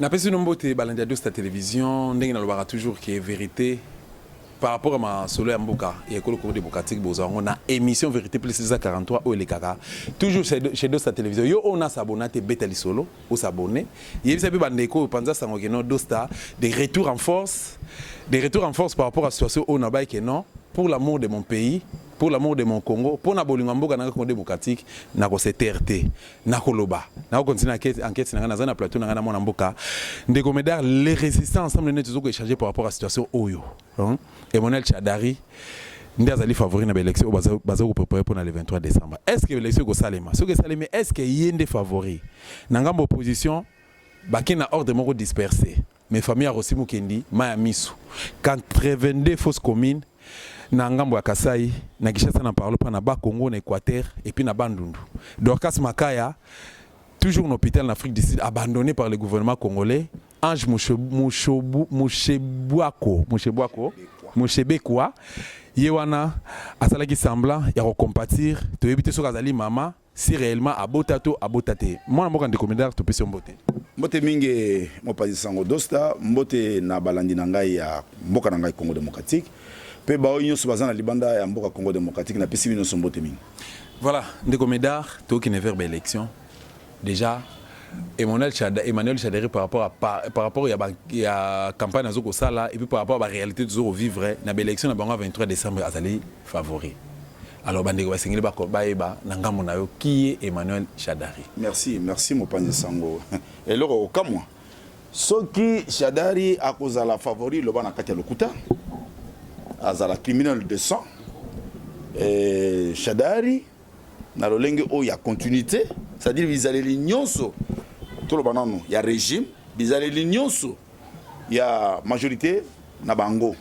napesi bino mbote balandi ya dosta télévision ndenge nalobaka toujours ke vérité par rapport à ma solo ya mboka ya ekolo congo démocratique bozwa yango na émission vérité plus eza 43 oyo elekaka toujours chez dosta télévision yo oyo nasabona te beta lisolo o s'abonner yebisa pe ba ndeko oyo panza sango que non Dosta de retour en force de retour en force par rapport à situation oyo nabaye que non pour l'amour de mon pays pour l'amour de mon Congo pona bolingo ya mboka nanga Congo democratique nako se taire te nako loba nako continuer enquete enquete nanga naza na plateau nanga na mwana mboka ndeko Medard les resistants ensemble nde tozo ko echanger par rapport à situation oyo Emmanuel Shadary nde azali favori na ba elections oyo bazali ko preparer mpo na le 23 decembre. Est ce que ba elections ekosalema? Soki esalemi, est ce que ye nde favori? Na ngambo ya opposition, bakei na ordre moko disperse. Mais famille ya Rossy Mukendi, mayi ya miso. 82 fausses communes na ngambo ya Kasaï, na Kinshasa na parle pas, na Bas Congo, na Equateur et puis na Bandundu. Dorcas Makaya, toujours na hopital na Afrique du Sud, abandonne par le gouvernement congolais. Ange Mushebwako, Mushebwako, Mushebekwa, ye wana asalaki semblant ya ko compatir, toyebi te soki azali mama, si reellement abota to abota te. Mwana mboka ndeko Medard topesi yo mbote. Mbote mingi mopanzi sango Dosta, mbote na balandi na ngai ya mboka na ngai Congo democratique mpe baoyo nyonso baza na libanda ya mboka Congo democratique napesi bino nyonso mbote mingi. Voilà ndeko Medard tokende vers ba elections. Dejà Emmanuel Shadary, Emmanuel Shadary par rapport à par, par rapport ya, ba, ya campagne azo kosala et puis par rapport à ba réalité tozo ko vivre na ba élection na bango 23 décembre azali favori. Alors bandeko basengeli ba bayeba na ngambo na yo qui est Emmanuel Shadary. Merci, merci mopanzi sango. Eloko okamwa soki Shadari akozala favori loba na kati ya lokuta azala criminel de sang eh, Shadari na lolenge oyo ya continuité c'est-à-dire bizaleli nyonso toloba nano ya régime bizaleli nyonso ya majorité na bango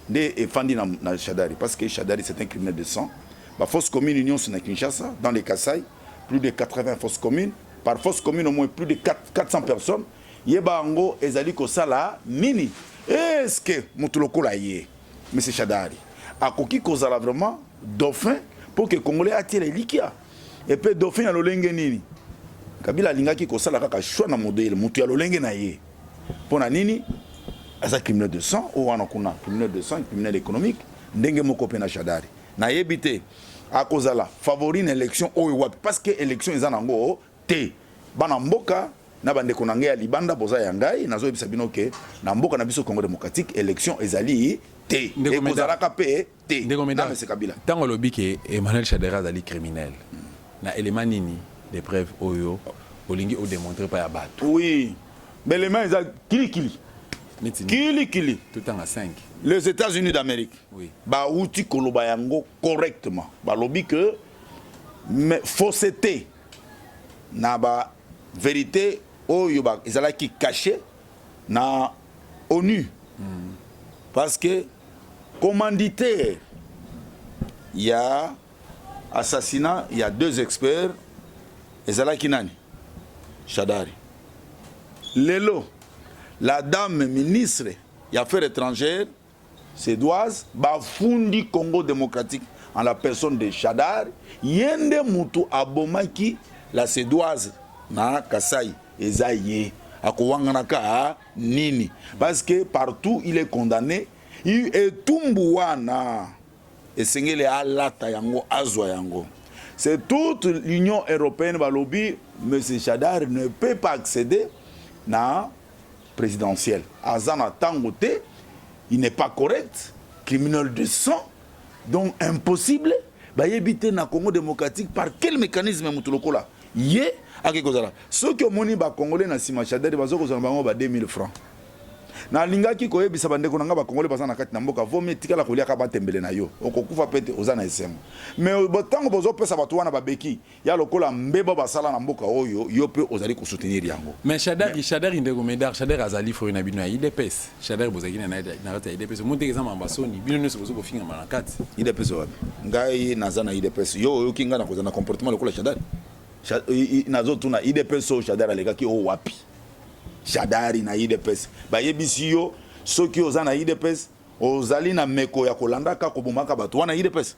nde efandi na, na Shadari parce que Shadari c'est un criminel de sang ba force commune nyonso na Kinshasa dans les Kasaï plus de 80 forces communes par force commune au moins plus de 4, 400 personnes yeba yango ezali kosala nini est-ce que moto lokola ye Monsieur Shadari akoki kozala vraiment dauphin mpo ke congolais atiela elikia epe dauphin ya lolenge nini kabila alingaki kosala kaka choix na modele motu ya lolenge na ye mpo na nini aza criminel de sang oyo wana kuna criminel de sang criminel économique ndenge moko mpe na shadari nayebi te akozala favori na élection oyo wapi parce que élection eza nango Te bana mboka na ba ndeko na ngai ya libanda boza ya ngai nazo yebisa bino ke na mboka na biso Congo democratique election ezali te ekozalaka pe te na mese kabila. Tango olobi ke Emmanuel Shadary azali criminel na element nini de preuve oyo olingi o demontrer epai ya batu? Oui ba element eza kili kili kili kili totanga 5 les Etats-Unis d'Amerique oui. ba wuti koloba yango correctement balobi ke mais fausseté na ba verite oyo ba ezalaki cache na onu mm. parce que commanditaire ya assassinat ya deux experts ezalaki nani shadari lelo la dame ministre ya affaires étrangères Suedoise ba fundi Congo democratique en la personne de Shadary ye nde mutu abomaki la suedoise na Kasaï eza ye akowangana ka nini parce que partout il est condamne etumbu wana esengeli alata yango azwa yango c'est toute l'union européenne balobi monsieur Shadary ne peut pas acceder na presidentiel aza na tango te il n'est pas correct criminel de sang donc impossible bayebi te na congo démocratique par quel mécanisme moto lokola ye ake kozala soki omoni bacongolais na nsima chadari baza kozala bango ba 2000 francs nalingaki koyebisa bandeko na ngai bacongolais baza na kati na mboka vomi etikala koliaka batembele na yo okokufa mpe te oza na esengo mai ntango bozopesa bato wana babeki Ya lokola mbeba basala na mboka oyo yo pe ozali ko soutenir yango. Mais Shadary, Shadary ndeko Medard, Shadary azali foe na bino ya udps. Shadary bozalaki na ye na kati ya udps. Omoni te que eza mamba soni, bino nionso bozo kofingama na kati. Udps wapi? Ngai naza na udps. Yo oyoki ngai na kozala na comportement lokola Shadary? Nazo tuna udps oyo Shadary alekaki oyo wapi? Shadary na udps. Bayebisi yo soki oza na udps ozali na meko ya kolandaka kobomaka bato wana udps?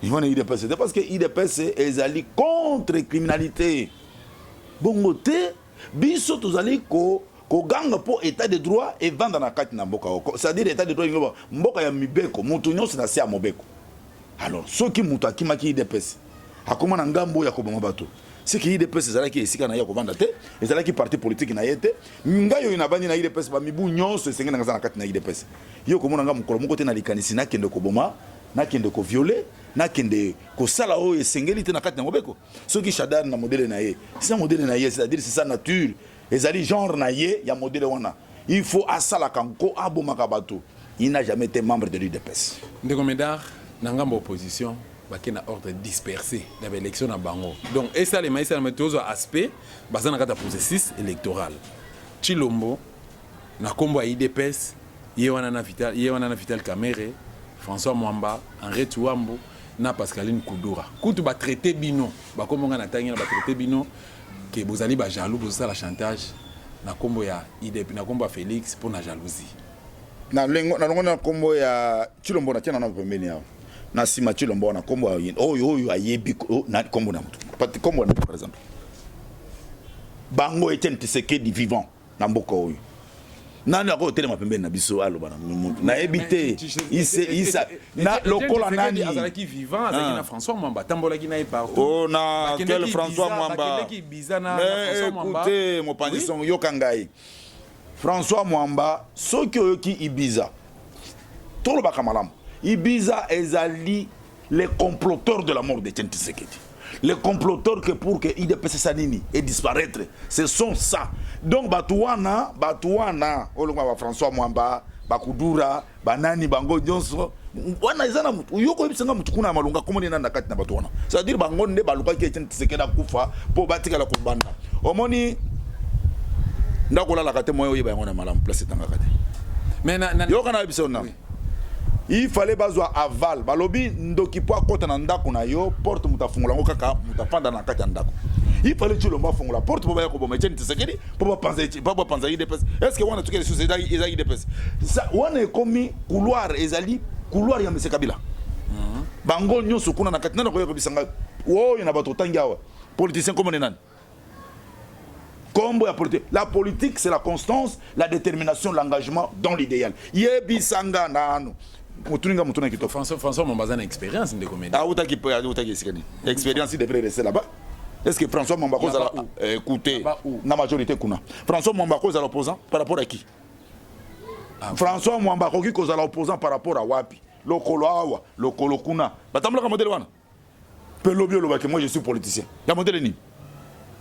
Ivana UDPS te parce que UDPS ezali contre criminalité. Bongo te biso tozali ko koganga mpo état de droit evanda na kati na mboka oko c'est-à-dire état de droit ingloba mboka ya mibeko moto nyonso na se ya mobeko alors soki moto akimaki idps akoma na ngambo ya koboma bato siki idps ezalaki esika na ye ya kovanda te ezalaki parti politike na ye te ngai oyo nabandi na idps bamibu nyonso esenge nanga aza na kati na idps yo okomona ngai mokolo moko te na likanisi nakende koboma nakende koviole nakende kosala oyo esengeli te na kati na mobeko soki shadar na modele na ye sa modele na ye c'est-à-dire c'est sa nature Ezali genre na ye ya modele wana il faut asalaka nko abomaka batu il n'a jamais ete membre de l'udps. Ndeko Medard, na ngambo ya opposition bake na ordre disperse na ba elections na bango donc esalema esalema tozwa aspect baza na kati ya processus electoral. Tshilombo na kombo ya udps ye wana na Vital ye wana na Vital Kamerhe, François Mwamba, Henri Tshouambo na Pascaline Kudura kutu ba traiter bino ba kombo nga na tangi na ba traiter bino que bozali ba jaloux bozo sala chantage na kombo ya idp na kombo ya Felix pona jalousie. Na lengo na longo na kombo ya Chilombo na tia na na pembeni awa na sima Chilombo na kombo ya oyo oyo ayebi oh, na kombo na mutu pati kombo na par exemple bango Etienne Tshisekedi vivant na mboka oyo nani akoki kotelema pembeni na biso aloba na mutu nayebi te ise isa na lokola nani azalaki vivant azalaki na François Mwamba atambolaki na ye partout oh na quel François Mwamba mais écoutez mopanzi songo yoka ngai François Mwamba soki oyoki Ibiza tolobaka malamu Ibiza ezali les comploteurs de la mort de Etienne Tshisekedi les comploteurs que pour que IDPS sa nini et disparaître ce sont ça donc bato wana bato wana oyo lokola ba François Mwamba bakudura banani bango nyonso wana eza na motu yo koyebisa nga motu kuna ya malonga komoni nani na kati na bato wana c'est-à-dire bango nde balukaki Etienne Tshisekedi akufa mpo batikala kobanda omoni ndako olalaka te moyen oyeba yango na malamu place etangaka te mais na, na... yoka na yebisa yo nani Il fallait bazwa aval balobi ndoki po akota na ndako na yo porte moto afungola yango kaka moto afanda na kati ya ndako il fallait tshilombo afungola porte po baya koboma etienne tshisekedi po bapanza eti- po bapanza idps est ce que wana tuki lisusu eza eza idps Sa- wana ekomi couloir ezali couloir ya mese kabila bango nyonso kuna na kati nani akoya kobisa ngai oyo na bato otangi awa politicien komone nani kombo ya politique la politique c'est la constance la détermination l'engagement dans l'idéal yebisa nga nanu motuni nga motuna kitoko françois françois mamba aza na expérience ndeko mede awutaki ah, awutaki ah, esika nini expérience de près reste là-bas est-ce que françois mamba akozala eh, écoute na majorité kuna françois mamba akozala opposant par rapport à qui ah, françois mwamba akoki kozala opposant par rapport à wapi lokolo awa lokolo kuna batambulaka modele wana mpe lobi oloba ke moi je suis politicien ya modele nini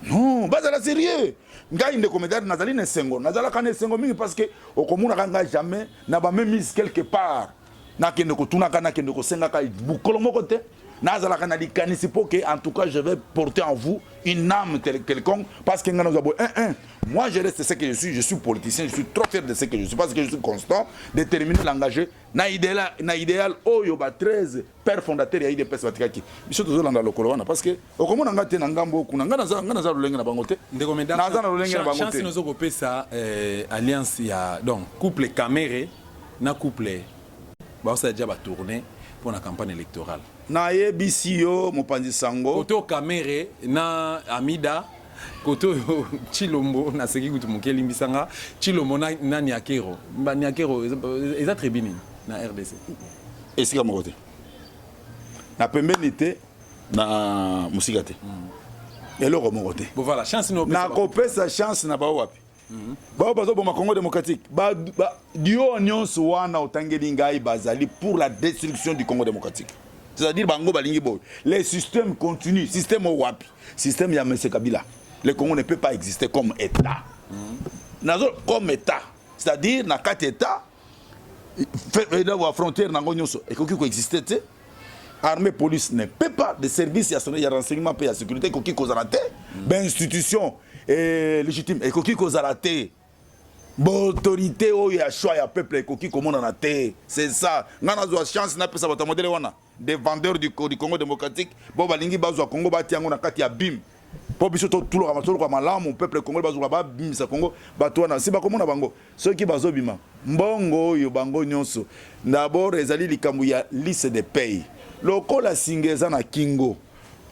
non bazala serieux ngai ndeko medard nazali na esengo nazalaka na esengo mingi parce que okomonaka ngai jamais na bamemise quelque part nakende kotunaka nakende kosengaka mokolo moko te nazalaka na likanisi mpo ke en tout cas je vais porter en vous une âme quelconque parce que ngai nazwa boye un un moi je reste ce que je suis je suis politicien je suis trop fier de ce que je suis parce que je suis constant déterminé l'engagé na idéal na idéal oyo ba 13 père fondateur ya idps batikaki biso tozolanda lokolo wana parce que okomona ngai te na ngambo kuna ngai naza ngai naza lolenge na bango te ndeko medam naza na lolenge na bango te chance nozo kopesa eh, alliance ya donc couple Kamere na couple baosala déjà ba tourner pour la campagne électorale nayebisi yo mopanzi sango koto Kamere na Amida koto oyo chilombo naseki kutu moke elimbisa nga chilombo na, na niakero ba niakero eza tribu nini na rdc esika moko te na pembeni te na mosika te mm. eloko moko te nakopesa chance na bao wapi mm-hmm. bao bazoboma congo démocratique dio nyonso wana otangeli ngai bazali pour la destruction du congo démocratique c'est-à-dire bango balingi boye le système continue système oyo wapi système ya mese kabila le congo ne peut pas exister comme état mm-hmm. nazo comme état c'est-à-dire na kati état na frontière nango nyonso ekoki koexiste te armée police ne peut pas de service ya ya renseignement mpe ya sécurité ekoki kozala te mm. bainstitution eh, légitime ekoki kozala te baautorité oyo ya choix ya peuple ekoki komonana te c'est ça ngai nazwa chance napesa bato ya modele wana des vendeurs du, du Congo démocratique bo balingi bazwa Congo batia yango na kati ya bim mpo biso totuluka matoloka malamu peuple congolais bazoluka babimisa Congo bato wana si bakomona bango soki bazobima mbongo oyo bango nyonso d'abord ezali likambo ya liste de paye lokola singa eza na kingo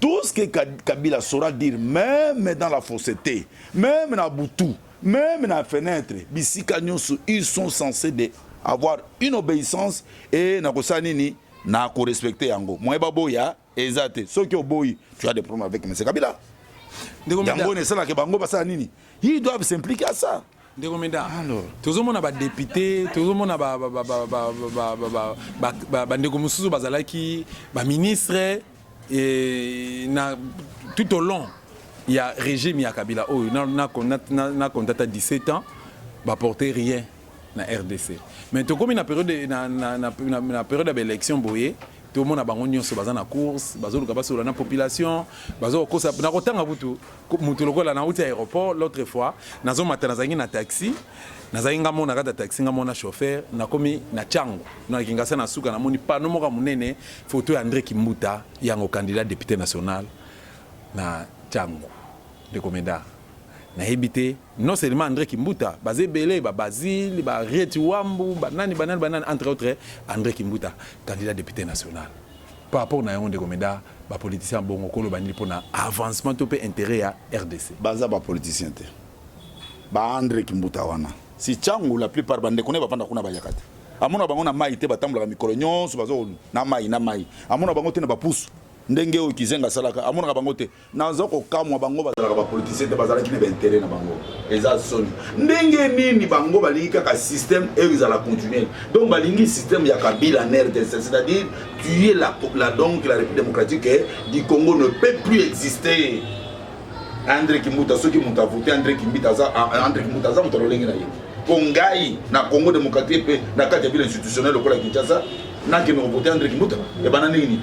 tout ce que Kabila saura dire meme dans la fausseté meme na butu meme na fenetre bisika nyonso ils sont censés de avoir une obéissance et na kosala nini na korespecte yango moye baboya eza te soki oboyi tu as des problèmes avec monsieur kabila yango oyo esalaka bango basala nini ils doivent s'impliquer à ça ndeko meda tozomona badepute tozomona bandeko mosusu bazalaki baministre Et na, tout au long ya régime ya Kabila oyo na, na, na, na contata 17 ans ba porter rien na RDC mais tokomi na période na, na, na, na, na période ya baélection boye tomona bango nyonso baza na course bazoluka basolola na population bazokokosa na kotanga kutu mutu lokola na uti aéroport l'autre fois nazo mata nazangi na taxi nazali nga mona kata taxi nga mona chauffeur nakomi na chango na kingasa na suka namoni pano moko munene photo ya André Kimbuta yango candidat député national na chango ndeko meda nayebi te non seulement André Kimbuta baza ebele ba Basile ba Rieti Wambu banani banani banani entre autres André Kimbuta candidat député national Par rapport na yango ndeko Medard, ba politiciens ya bongo koloba nini pona avancement to pe interet ya rdc? Baza ba politiciens te. Ba Andre Kimbuta wana. Si Tshangu la plupart ba ndeko naye bavanda kuna bayaka te. Amona bango na mayi te batambolaka mikolo nyonso bazo na mayi na mayi. Amona bango te na ba pusu. Ndenge oyo Kizenga asalaka amonaka bango te. naza kokamwa bango bazalaka bapolitisien te bazalaki na baintere na bango eza soni ndenge nini bango balingi kaka système oyo ezala continuel donc balingi système ya kabila na rdc c'est-à-dire tuer la, la, donc la république démocratique eh, du congo ne peut plus exister andre kimbuta soki moto avote andre kimbuta aza ah, andre kimbuta aza moto alolenge na ye mpo ngai na congo démocratique mpe na kati ya ville institutionnel lokola kinshasa nakende kovote andre kimbuta ebana ndenge nini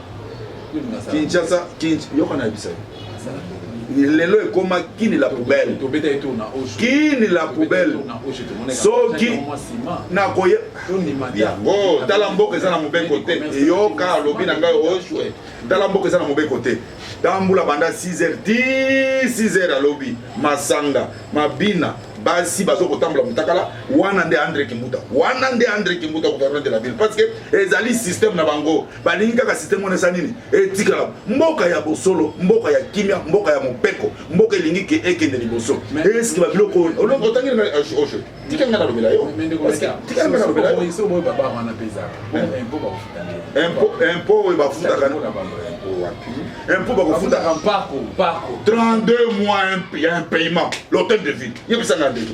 Kinshasa Kinshasa yoka na bisa lelo ekoma kini la poubelle kini la poubelle soki nakoye yango tala mboka eza na mobeko te eyoka alobi na ngai oshwe tala mboka eza na mobeko te tambula banda 6 heures ti 6 heures alobi masanga mabina basi bazo kotambola mutakala wana nde andre kimbuta wana nde andre kimbuta gouverneur de la ville parce que ezali système na bango balingi kaka site mona eza nini etikala mboka ya bosolo mboka ya kimia mboka ya mopeko mboka elingi ke ekende liboso eske babiloko oyo otangi na oje tika nga nalobela yo tika nga nalobela yo impo oyo bafutaka impo bakofutaka 32 mois ya impayement l'hôtel de ville yebisanga ndeko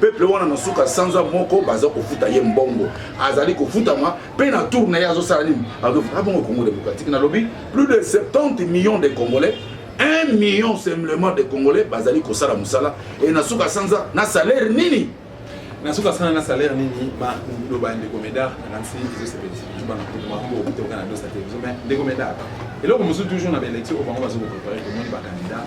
peuple wana na suka sanza moko baza kofuta ye mbongo azali kofutama mpe na tour na ye azosala nini azofuta ah, bongo congo démocratique nalobi plus de 70 millions de congolais 1 million simplement de congolais bazali kosala mosala e na suka sanza na salaire nini na suka sanza na salaire nini loba ndeko medar nakanisi ezosepelisa biso bana kumaango okitokana dosa te biso mais ndeko medar eloko mosusu toujours na baélection oyo bango bazokoprépare komoni bakandidat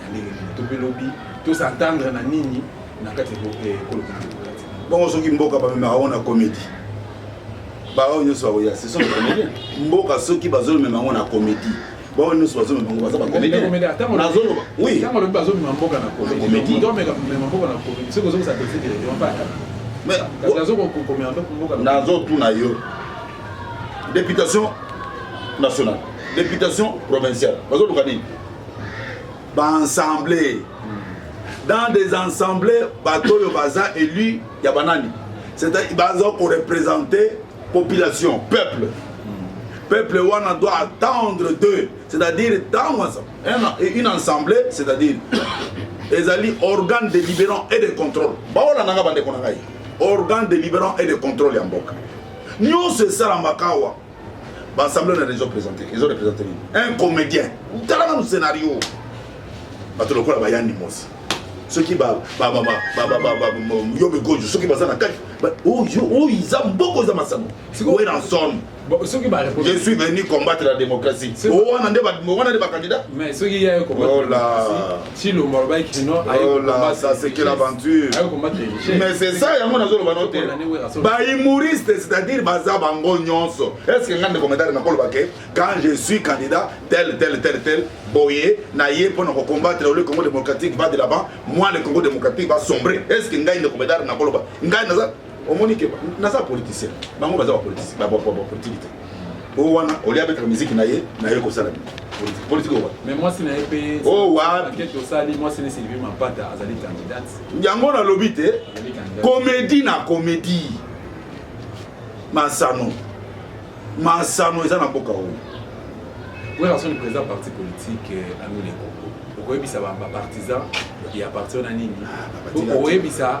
na ndenge nini to mpe lobi to s'entendre na nini na kati ya ekolo bongo soki mboka bamemaka yango na komedi baoyo nyonso bakoya seso mboka soki bazomema yango na komedi baoyo nyonso bazomema yango baza bakomedinazoloba bazomema mboka na komedi soki ozokisa nazotuna yo députation nationale députation provinciale bazoluka nini ba ensemble dans des ensembles bato oyo baza élu ya banani c'est-à-dire baza koreprésente population peuple peuple wana doit attendre d'eux c'est-à-dire ntango une ensemble c'est-à-dire ezali organe de libérant et de contrôle baolandanga bandeko na ngai organe de libérant et de contrôle ya mboka nyonso esalamaka awa Ba ensemble na ezo présenter, ezo représenter nini? Un comédien. Tala na scénario. Bato lokola ba Yanni Mosi. soki yo migojo soki baza na kati oyo iza mboko eza masango weranson je suis venu combattre la démocratie wana nde bacandidat Tshilombo alobaki kino ayekola ça c'est quelle aventure mais c'est ça yango nazoloba no te bahumoriste c'est-à-dire baza bango nyonso est ce que nga ndeko medare nakoloba ke quand je suis candidat tel tel tel tel boye na ye mpo na kocombattre ole congo démocratique va de là-bas moi le congo démocratique va sombre est ce que ngai ndeko medare nakoloba ngai naza omoni ke naza politicien bango baza bapoliticien bapolitiki te o wana oli abetaka miziki na ye na ye kosala nini politique politique owa mais mwasi na ye mpe o wapi tosali mwasi na Sylvie Mapata azali candidate yango nalobi te comédie na comédie masano masano eza na mboka oyo oyo asoni président parti politique euh, anoleko okoyebisa bapartisan ya parti wana nini ah, okoyebisa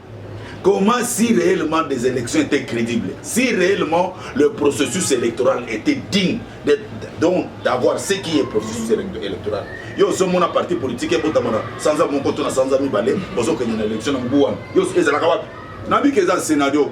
Comment si réellement des élections étaient crédibles, si réellement le processus électoral était digne donc d'avoir ce qui est processus électoral yo ozomona parti politique ebotamana sanza moko to na sanza mibale ozokende na élection na mbu wana yo ezalaka wapi nabika eza scénario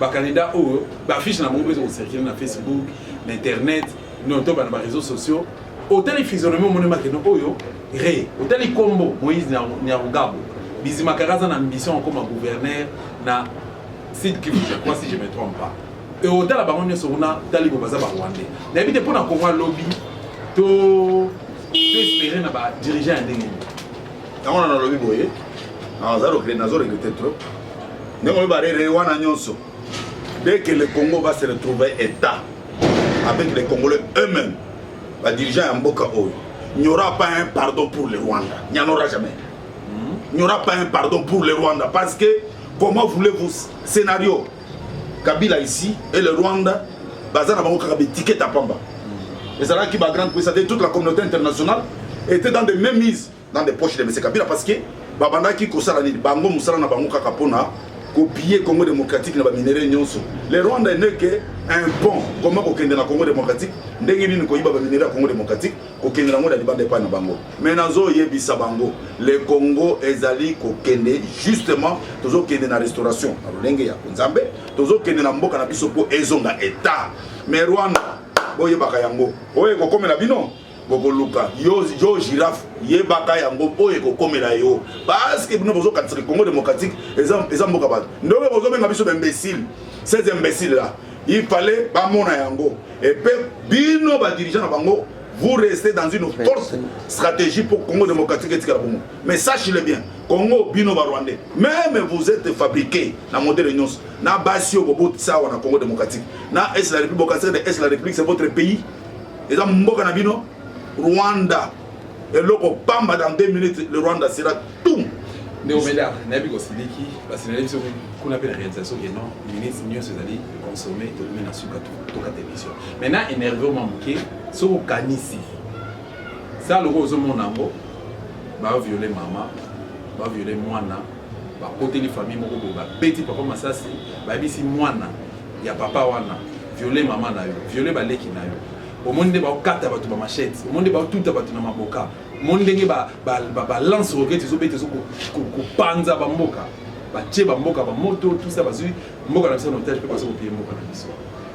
bakandida oyo baaffiche na bango mpe ezokocircule na facebook na internet noto bana bareseau sociaux otali physionomie omoni makeno oyo re otali nkombo moïse nyarugabo bizimakaka aza na ambition akoma gouverneur na sud kivu je crois si je me trompe pas e otala bango nyonso kuna talibo baza barwandais nayebi te mpo na kongo alobi to espere na badirigeant ya ndenge nini yango na nalobi boye nazo regrete trop ndenge oyo barere wana nyonso dès que le congo va se retrouver état avec les congolais eux-mêmes badirigeant ya mboka oyo n'y aura pas un pardon pour le rwanda n'y en aura jamais n'y aura pas un pardon pour le rwanda parce que comment voulez-vous scénario kabila ici et le rwanda baza na bango kaka betiketa pamba ezalaki ba grande puissance et toute la communauté internationale était dans des mêmes mises dans des poches de monsieur kabila parce que babandaki kosala nini bango mosala na bango kaka mpona kopiller congo démocratique na baminerai nyonso le rwanda eneke un pont koma kokende na congo démocratique ndenge nini koyiba baminerai ya congo démocratique kokende nango na libanda epai na bango mais nazoyebisa bango le congo ezali kokende justement tozokende na restauration na lolenge ya nzambe tozokende na mboka na biso mpo ezonga etat mais rwanda boyebaka yango oyo ekokomela bino bokoluka yo, yo girafe yebaka yango mpo ekokomela yo parceke bino bozokatisa congo démocratique eza, eza mboka bato ndobe bozobenga biso baimbécile ces imbécile là Il fallait bamona yango et puis bino ba dirigeants na bango vous restez dans une force stratégie pour Congo démocratique et tikala bongo mais sache le bien Congo bino ba rwandais même vous êtes fabriqué na modèle nyonso na basi oyo bobotisa awa na Congo démocratique na est la république bokasere de est la république c'est votre pays eza mboka na bino Rwanda eloko pamba dans 2 minutes le rwanda sera tout ndeko meda nayebi kosiliki basilali biso kuna mpe na réalisation ke non ministre nyonso ezali consommé tokomi na suka toka télévision maintenant énerve mwa moke soki okanisi sa loko ozomona yango baviole mama baviole mwana bakoteli famille moko boye babeti papa masasi bayebisi mwana ya papa wana viole mama na yo viole baleki na yo omoni nde baokata bato ba machete omoni nde baotuta bato na maboka omoni ndenge balance roquete ezobeta ezokopanza bamboka batie bamboka bamoto tusa bazwi mboka na biso na otage mpe baza kopie mboka na biso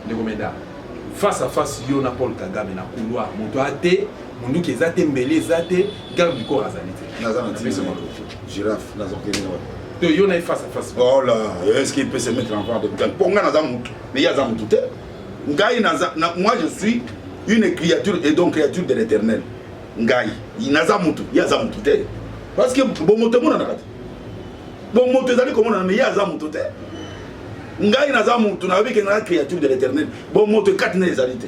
ndeko meda face à face yo na paul kagame na couloir moto ate monduki eza te mbeli eza te garde du corps azali te Giraffe nazo kende wapi? To yo na face à face. Oh là, est-ce qu'il peut se mettre en vente? Pour nga naza mutu, mais ya za mutu te. Ngai naza na, moi je suis une créature et donc créature de l'éternel. Ngai naza mutu, ya za mutu te. Parce que bon moto mona na kati. Bon moto ezali komona mais ya za mutu te. Ngai naza mutu, na yobi ke na créature de l'éternel. Bon moto kati na ezali te.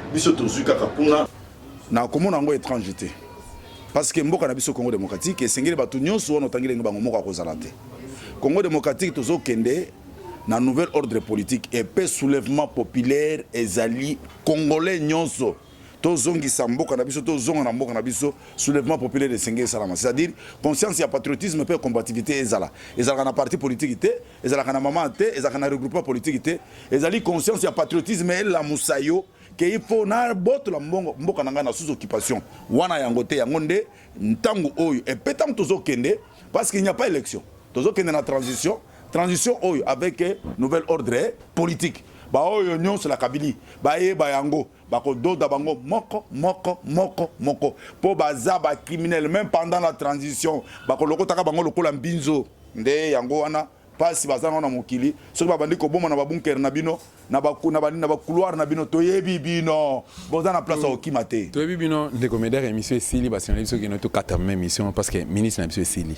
Biso tozui kaka kuna. Na komona yango etrange te parce que mboka na biso Congo demokratiki esengeli bato nyonso wana otangi ndenge bango moko akozala te Congo demokratiki tozokende na nouvel ordre politique epe soulèvement populaire ezali congolais nyonso tozongisa mboka na biso tozonga na mboka na biso soulèvement populaire esengeli esalama c'est-à-dire conscience ya patriotisme mpe combativité ezala ezalaka na parti politique te ezalaka na mama te ezalaka na regroupement politique te ezali conscience ya patriotisme elamusa yo ke il faut nabotola mbongo mboka na ngai na sous occupation wana yango te yango nde ntango oyo epe ntango tozokende parce qu'il n'y a pas élection tozokende na transition transition oyo avec nouvelle ordre politique baoyo nyonso na kabili bayeba yango Bako doda bango moko moko moko moko po baza ba criminel meme pendant la transition bako lokotaka bango lokola mbinzo nde yango wana pasi baza nango na mokili soki babandi koboma na ba bunker na bino na ba na ba, na ba couloir na bino toyebi bino boza na place ya kokima te toyebi bino ndeko meder emission esili basengeli biso kino tokata meme emission parce que ministre na biso esili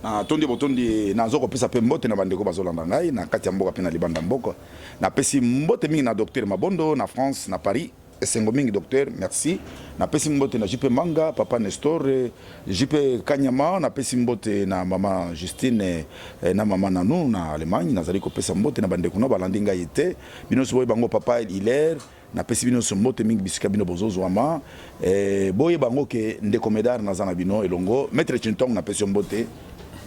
natondi botondi nazo kopesa mpe mbote na bandeko bazolanda ngai na kati ya mboka mpe na libanda mboka Napesi mbote mingi na Docteur Mabondo na France na Paris. Esengo mingi docteur, merci. Napesi mbote na JP Manga, Papa Nestor, JP Kanyama, napesi mbote na mama Justine eh, na mama Nanu na Allemagne. Nazali kopesa mbote na bandeko na balandi ngai te. Bino soboyi bango Papa Hilaire Napesi bino nso mbote mingi bisika bino bozozuama eh, boyeba yango ke ndeko Medard naza na bino elongo. Maitre Chintong napesi yo mbote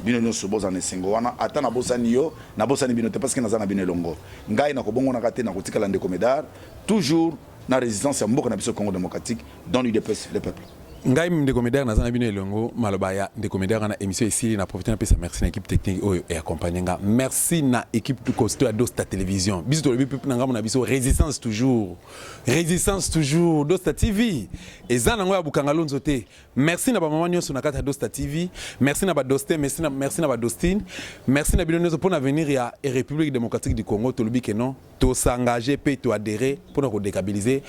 bino nyonso boza na esengo wana, ata nabosani yo nabosani bino te parce que naza na bino elongo. Ngai nakobongonaka te, nakotikala ndeko Medard toujours na resistance ya mboka na biso Congo démocratique dans l'UDPS le peuple. ngai ndeko medar naza na bino elongo maloba ya ndeko medar wana émission esili na profite napesa merci na équipe technique oyo eaccompagne nga merci na équipe costo ya dosta télévision biso tolobi pepe na ngambo na biso résistance toujours résistance toujours dosta tv eza nango ya bukanga lonzo te merci na bamama nyonso na kati ya dosta tv merci na badoste merci na, merci na badostine merci na bino nyonso mpo na avenir ya république démocratique du congo tolobi ke non tosengage mpe toadere mpo na kodécabilise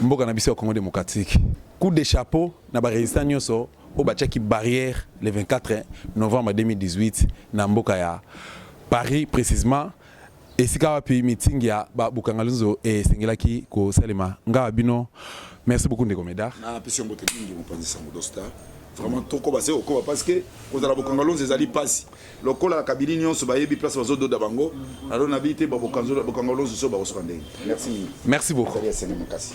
mboka na biso ya congo démocratique Coup de chapeau na ba resistants nionso oyo batiaki barrière le 24 novembre 2018 na mboka ya Paris precisement esika wapi meeting ya ba Bukangalunzo esengelaki kosalema. Nga wa bino, merci beaucoup ndeko Medard. Na pesi yo mbote mingi mopanzi sango Dosta. vraiment tokoba se kokoba parce que kozala bokangalonzi ezali mpasi lokola na kabili nyonso bayebi place bazododa bango alo nabi te babokangalonzi so bakosoka ndenge merci mingi merci beaucoup makasi